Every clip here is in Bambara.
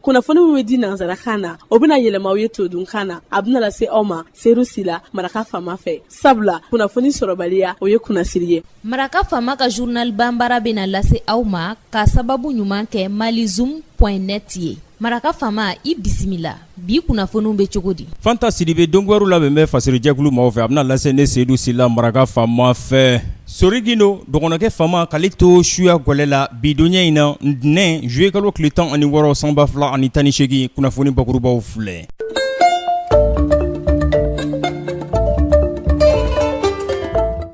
kunnafoni min bɛ di nansarakan na o bɛna yɛlɛma aw ye todunkan na a bɛna lase aw ma seyidu sila maraka faama fɛ sabula kunnafoni sɔrɔbaliya o ye kunnasiri ye maraka faama ka journal banbara bɛna lase aw ma ka sababu ɲuman kɛ malizum point net ye maraka faama i bisimila bi kunnafoniw bɛ cogo di fanta sidibe don kibaruw labɛn bɛ fasiri jɛkulu mɔgɔw fɛ a bɛna lase ne seyidu sila maraka faama fɛ sori gindo dɔgɔnɔkɛ faama k'ale to suya gɛlɛ la bidonya in na ntɛnɛn zuluyekalo tile tan ani wɔɔrɔ san ba fila ani tan ni segin kunnafoni bakurubaw filɛ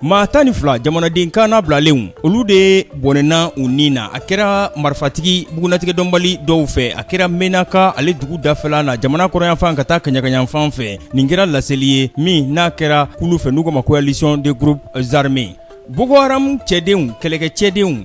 Maa tan ni fila jamanaden kana bilalenw olu de bɔnɛna u ni na a kɛra marifatigi bugunnatigɛ dɔnbali dɔw fɛ a kɛra menaka ale dugu dafɛla na jamana kɔrɔnyanfan ka taa kaɲakayanfan fɛ nin kɛra laseli ye min n'a kɛra kulu fɛ n'u k'o ma coalition des groupes armés boko haram cɛdenw kɛlɛkɛ cɛdenw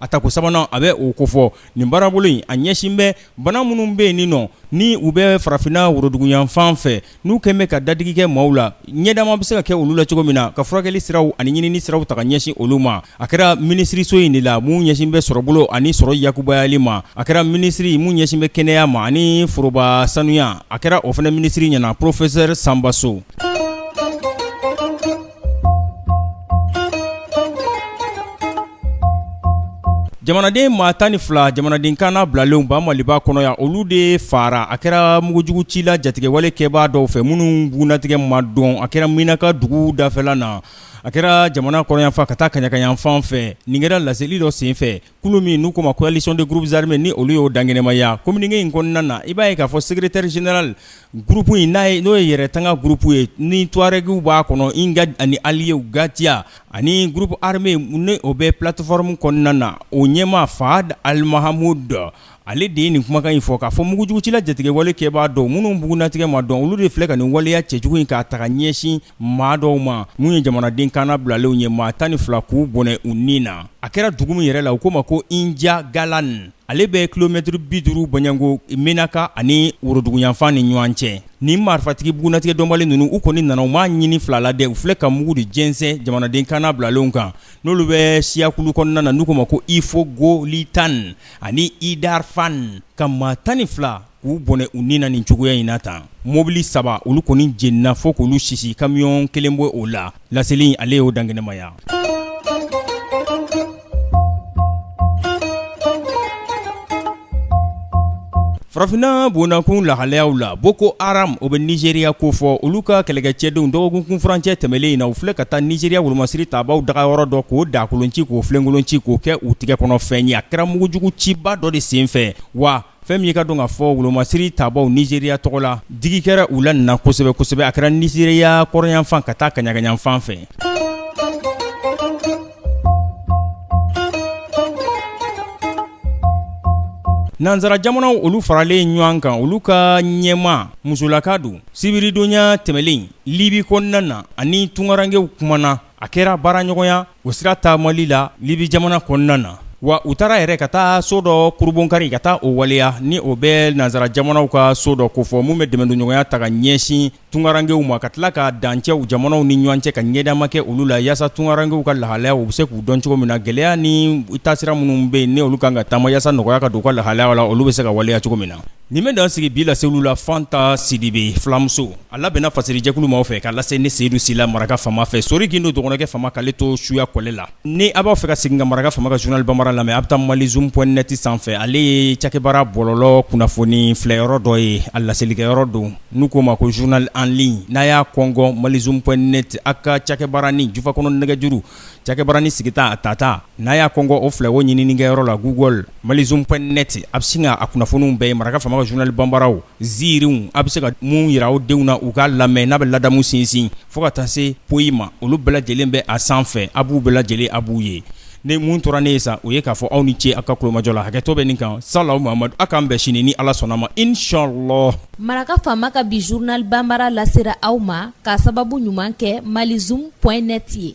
A tako sabanan a bɛ o kofɔ nin baarabolo in a ɲɛsin bɛ bana minnu bɛ yen nin nɔ ni u bɛ farafinna woroduguyanfan fɛ n'u kɛlen bɛ ka dadigi kɛ maaw la ɲɛdama bɛ se ka kɛ olu la cogo min na ka furakɛli siraw ani ɲinini siraw taga ɲɛsin olu ma a kɛra minisiriso in de la min ɲɛsin bɛ sɔrɔbolo ani sɔrɔ yakubayali ma a kɛra minisiri min ɲɛsin bɛ kɛnɛya ma ani foroba sanuya a kɛra o fana minisiri ɲɛna porofesɛri sanba so Jamanaden maa tan ni fila jamanaden kana bilalenw ba maliba kɔnɔ yan olu de fara a kɛra mugujugucila jatigɛwale kɛbaa dɔw fɛ minnu bugunnatigɛ ma dɔn a kɛra menaka dugu dafɛla na a kɛra jamana kɔrɔnyanfan ka taa kaɲakayanfan fɛ nin kɛra laseli dɔ senfɛ kulu min n'u k'o ma coalition des groupes armés ni olu y'o dankɛnɛmaya communiqué in kɔnɔna na i b'a ye k'a fɔ secrétaire général groupe in n'o ye yɛrɛtanga groupe ye ni tuarɛgiw b'a kɔnɔ Imghad ani alliés GATIA ani groupe armé ni o bɛ plateforme kɔnɔna na o ɲɛmaa Fahad Al Mahmoud Ale de ye nin kumakan in fɔ k'a fɔ mugujugucila jatigɛwale kɛbaa dɔw minnu bugunnatigɛ ma dɔn olu de filɛ ka nin waleya cɛjugu in k'a taga ɲɛsin maa dɔw ma minnu ye jamanaden kana bilalenw ye maa tan ni fila k'u bɔnɛ u ni na a kɛra dugu min yɛrɛ la u k'o ma ko injagalan ale bɛ kilomɛtiri bi duuru bɔɲɔgɔnko menaka ani woroduguyanfan ni ɲɔgɔn cɛ ni marifatigi bugunnatigɛ dɔnbali ninnu u kɔni nana u m'a ɲini fila la dɛ u filɛ ka mugu de jɛnsɛn jamanaden kana bilalenw kan n'olu bɛ siyakulu kɔnɔna na n'u k'o ma ko ifogolitan ani Idarfan ka maa tan ni fila k'u bɔnɛ u ni na nin cogoya in na tan, mobili saba olu kɔni jenina fo k'olu sisi kamiyon kelen bɛ o la, laseli in ale y'o dankɛnɛmaya Farafinna bɔnnakun lahalayaw la Boko Haram o bɛ Nizeriya kofɔ olu ka kɛlɛkɛcɛdenw dɔgɔkun kunfurancɛ tɛmɛnlen in na u filɛ ka taa Nizeriya wolomasiri tabaw dagayɔrɔ dɔ k'o da kolon ci k'o filenkolon ci k'o kɛ u tɛgɛ kɔnɔfɛn ye a kɛra mugujugu ciba dɔ de senfɛ wa fɛn min ye k'a dɔn k'a fɔ wolomasiri tabaw Nizeriya tɔgɔ la digi kɛra u la nin na kosɛbɛ kosɛbɛ a kɛra Nizeriya kɔrɔnyanfan ka taa kaɲagayanfan fɛ Nansara jamanaw olu faralen ɲɔgɔn kan olu ka ɲɛmaa musolaka don sibiridonya tɛmɛnen Libi kɔnɔna na ani tunkarankew kuma na a kɛra baaraɲɔgɔnya o sira taamali la Libi jamana kɔnɔna na wa u taara yɛrɛ ka taa so dɔ kurunbonkari ka taa o waleya ni o bɛ nansara jamanaw ka so dɔ kofɔ min bɛ dɛmɛdonɲɔgɔnya ta ka ɲɛsin tunkarankew ma ka tila ka dancɛw jamanaw ni ɲɔgɔn cɛ ka ɲɛdama kɛ olu la yaasa tunkarankew ka lahalaya u bɛ se k'u dɔn cogo min na gɛlɛya ni taasira minnu bɛ yen ni olu kan ka taama yaasa nɔgɔya ka don u ka lahalaya la olu bɛ se ka waleya cogo min na nin bɛ dan sigi bi lase olu la Fanta Sidibe filamuso a labɛnna fasirijɛkulu maaw fɛ ka lase ne Seyidu Sila maraka faama fɛ Sori Gindo dɔgɔnɔkɛ faama k'ale to suya kɔlɛ la Ni a b'a fɛ ka segin ka maraka faama ka journal bambara lamɛn a bɛ taa malizoom point net sanfɛ ale ye cakɛbara bɔlɔlɔ kunnafoni filɛ yɔrɔ dɔ ye a laselikɛ yɔrɔ don n'u k'o ma ko journal en ligne n'a y'a kɔngɔn malizoom point net a ka cakɛbaranin jufakɔnɔ nɛgɛjuru cakɛbaranin sigita a tata n'a y'a kɔngɔn o fila o ɲininikɛyɔrɔ la Google malizoom point net a bɛ sin k'a kunnafoniw bɛɛ ye maraka faama ka journal bambaraw ziirinw a bɛ se ka mun jira aw denw na u k'a lamɛn n'a bɛ ladamu sinsin fo ka taa se poyi ma olu bɛɛ lajɛlen bɛ a sanfɛ a b'u bɛɛ lajɛlen a b'u ye ni mun tora ne ye sa o ye k'a fɔ aw ni ce aw ka kulomajɔ la hakɛto bɛ nin kan salamu Mahamadu a k'an bɛn sini ni Ala sɔnna ma inshallah maraka faama ka bi journal bambara lasera aw ma k'a sababu ɲuman kɛ malizoom point net ye